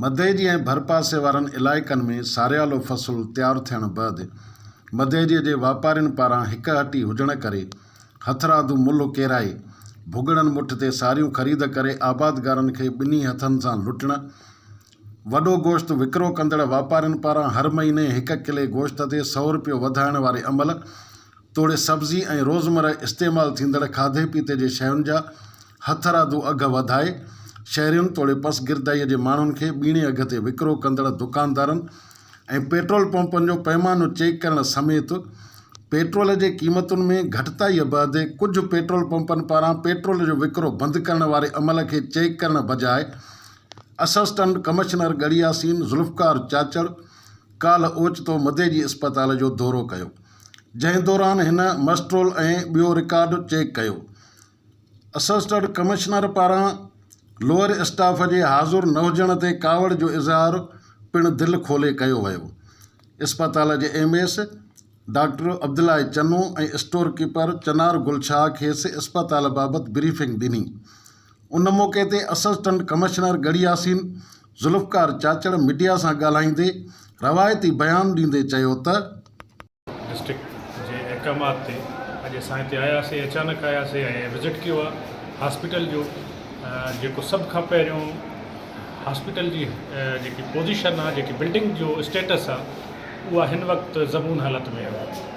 مدئجي ۽ ڀرپاسي وارن علائقن ۾ ساريالو فصل تيار ٿيڻ بعد مدئجي جي واپارين پاران هڪ هٽي هجڻ ڪري هٿرادو ملهه ڪيرائي ڀڳڙن مٺ تي ساريون خريد ڪري آبادگارن کي ٻنهي هٿن سان لٽڻ وڏو گوشت وڪرو ڪندڙ واپارين پاران هر مهيني هڪ ڪلي گوشت تي سؤ رپيو وڌائڻ واري عمل توڙي سبزي ۽ روزمره استعمال ٿيندڙ کاڌي پيتي جي شين جا هٿرادو اگهه وڌائي شهرين توڙي پسگردائيء جي ماڻهن کي ٻيڻي اگهه تي وڪرو ڪندڙ دڪاندارن ۽ پيٽرول پمپن جو پيمانو چيڪ ڪرڻ سميت پيٽرول جي قيمتن ۾ گهٽتائيء بعد ڪجهه پيٽرول پمپن پاران پيٽرول جو وڪرو بند ڪرڻ واري عمل کي چيڪ ڪرڻ بجاء اسسٽنٽ ڪمشنر ڳڙهي ياسين ذوالفقار چاچڙ ڪالهه اوچتو مديجي اسپتال جو دورو ڪيو، جنهن دوران هن مسٽرول ۽ ٻيو رڪارڊ چيڪ ڪيو. اسسٽنٽ ڪمشنر پاران لوئر اسٽاف جي حاضر نه هجڻ تي ڪاوڙ جو اظهار پڻ دل کولي ڪيو ويو. اسپتال جي M S doctor Abdullah Chano ۽ store keeper Chanar Gul Shah کيس اسپتال بابت بريفنگ ڏني، ان موقعي تي assistant commissioner Garhi Yasin Zulfiqar Chachar media سان ڳالهائيندي روايتي بيان ڏيندي چيو ته. ڊسٽرڪٽ جي احڪامات تي اڄ اسان هتي آياسي اچانڪ آياسي ۽ وزٽ ڪيو آ هاسپيٽل جو جيڪو سڀ کان پهريون هاسپيٽل جي جيڪي پوزيشن آ جيڪي بلڊنگ جو اسٽيٽس آ اها هن وقت زبون حالت ۾ آ.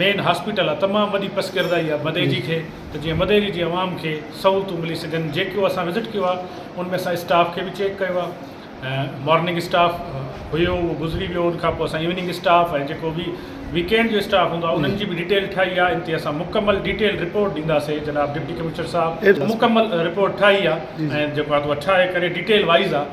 مين هاسپيٽل آ تمام وڏي پسگردائي آ مديجي کي ته جيئن مديجي جي عوام کي سهولتون ملي سگهن جيڪو اسان وزٽ ڪيو آ ان ۾ اسان اسٽاف کي به چيڪ ڪيو آ مارننگ اسٽاف هيو اهو گذري ويو ان کان پوء اسان ايوننگ اسٽاف ۽ جيڪو به ويڪينڊ جو اسٽاف هوندو آ انهن جي به ڊيٽيل ٺاهي آ ان تي اسان مڪمل ڊيٽيل رپورٽ ڏينداسي جناب ڊپٽي ڪمشنر صاحب مڪمل رپورٽ ٺاهي آ ۽ جيڪو آ ٺاهي ڪري ڊيٽيل وائيز آ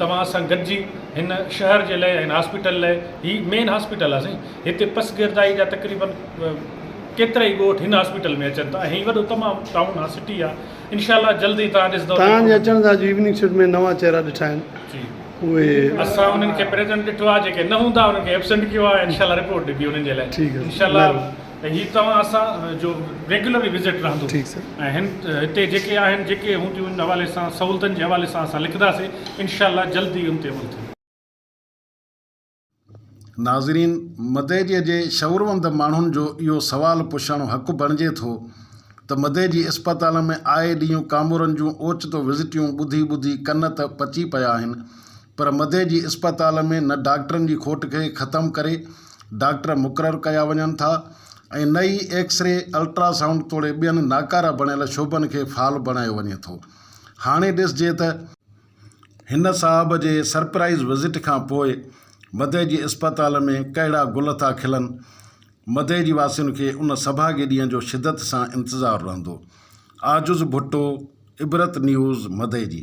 توهان سان گڏجي هن شهر جي لئه هن هاسپيٽل لئه هي مين هاسپيٽل آ سائين هتي پس گردائي جا تقريبن ڪيترائي ڳوٺ هن هاسپيٽل ۾ اچن ٿا ۽ هي وڏو تمام ٽائون آ سٽي آ انشاء الله جلد ئي توهان ڏسدئو توهان جي اچڻ سان اڄ ايوننگ شفٽ ۾ نوان چهرا ڏٺا آهن جي اهي اسان انهن کي پريزنٽ ڏٺو آ جيڪي نه هوندا انهن کي ايبسنٽ ڪيو آ انشاء الله رپورٽ ڏبي انهن جي لئه ٺيڪ آ انشاء الله مهرباني ته هي توهان اسان جو ريگيولر وزٽ رهندو ۽ هتي جيڪي آهن جيڪي هونديون ان حوالي سان سهولتن جي حوالي سان اسان لکنداسين انشاء الله جلد ئي ان تي عمل ٿيندو. ناظرين مدئجيء جي شعوروند ماڻهن جو اهو سوال پڇڻ حق بڻجي ٿو ته مدئجي اسپتال ۾ آء ڏينهن ڪامورن جون اوچتو وزٽيون ٻڌي ٻڌي ڪن ته پچي پيا آهن پر مدئجي اسپتال ۾ نه ڊاڪٽرن جي کوٽ کي ختم ڪري ڊاڪٽر مقرر ڪيا وڃن ٿا ۽ نه ئي ايڪس ري، الٽرا سائونڊ توڙي ٻين ناڪارا بڻيل شعبن کي فعال بڻايو وڃي ٿو. هاڻي ڏسجي ته. هن صاحب جي سرپرائيز وزٽ کان پوء مدئي جي اسپتال ۾ ڪهڙا گل ٿا کلن، مدئي جي واسين کي ان سڀاڳي ڏينهن جو شدت سان انتظار رهندو. عاجز ڀٽو، عبرت نيوز، مدئي جي.